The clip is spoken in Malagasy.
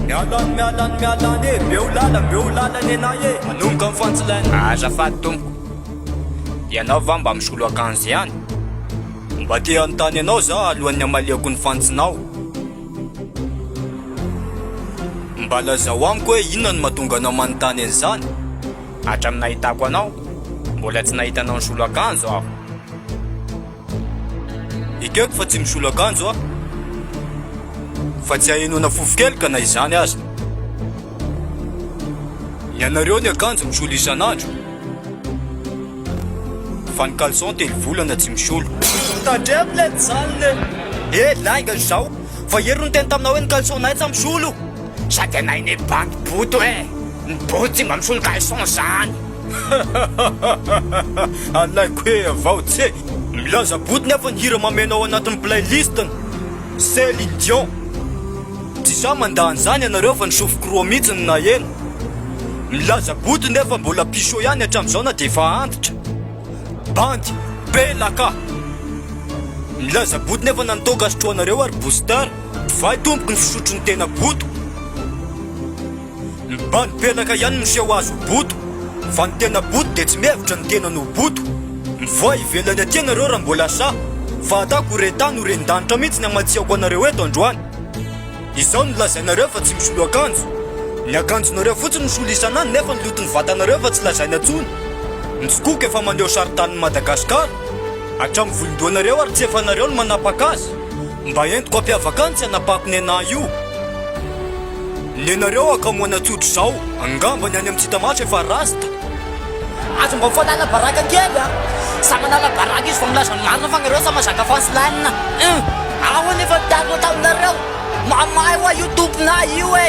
Mialany mialany mialany e Beo lala beo lala nenay e Manomboka amin'ny fantsilaina Azafady tompoko Ianao va mba misolo akanjo ihany? Mba te hanontany anao zaho alohan'ny hamaliako ny fantsinao Mba lazao amiko hoe inona no mahatonga anao manontany an'izany? Hatramin'ny nahitako anao Mbola tsy nahita anao nisolo akanjo aho Ekeko fa tsy misolo akanjo aho, fa tsy hahenoana fofo kely ka na izany aza. Ny anareo ny akanjo misolo isan'andro, fa ny caleçon telo volana tsy misolo. Tandremo lety izany le! Eh, lainga izao! Vao ieri niteny taminao hoe ny caleçon-nay tsa misolo! Sady anay ne bandy boto eh! Ny boto tsy mba misolo caleçon zany! Alaiko hoe avao tse! Milaza botiny aho fa ny hira mameana ao anatin'ny playlist-ny, Céline Dion. Tsy za mandà an'izany ianareo fa ny sofiko roa mihitsy no naheno. Milaza botiny re fa mbola pisho ihany hatramin'izao na dia efa antitra. Bandy, bela ka! Milaza botiny aho fa na ny toaka sotroinareo ary booster, divay tompoko ny fisotro ny tena boto. Ny bandy mpianaka ihany no seho azy ho boto fa ny tena boto dia tsy mihevitra ny tenany ho boto. Mivoaha ivelany aty ianareo raha mbola sahy fa atako ho rentany ho rendanitra mihitsy ny hamatsiako anareo eto androany. Izao no lazainareo fa tsy misolo akanjo. Ny akanjonareo fotsiny no solo isan'andro nefa ny loton'ny vatanareo efa tsy lazaina intsony. Ny skoka efa maneho saritanin'i Madagasikara hatramin'ny volon-dohanareo ary tsy efanareo no manapaka azy. Mba entiko ampiavaka antsy anabako nenà io Nenareo akamoana tsotra izao Angamba ny any amin'ny tsy hita maso efa rasta Aza mba mifanala baraka kely a! Sa manala baraka izy vao milaza ny marina fa nareo sa mazaka fans line a! Ahoana efa ny taloha taminareo? Mamahy hoa io tomponà io e!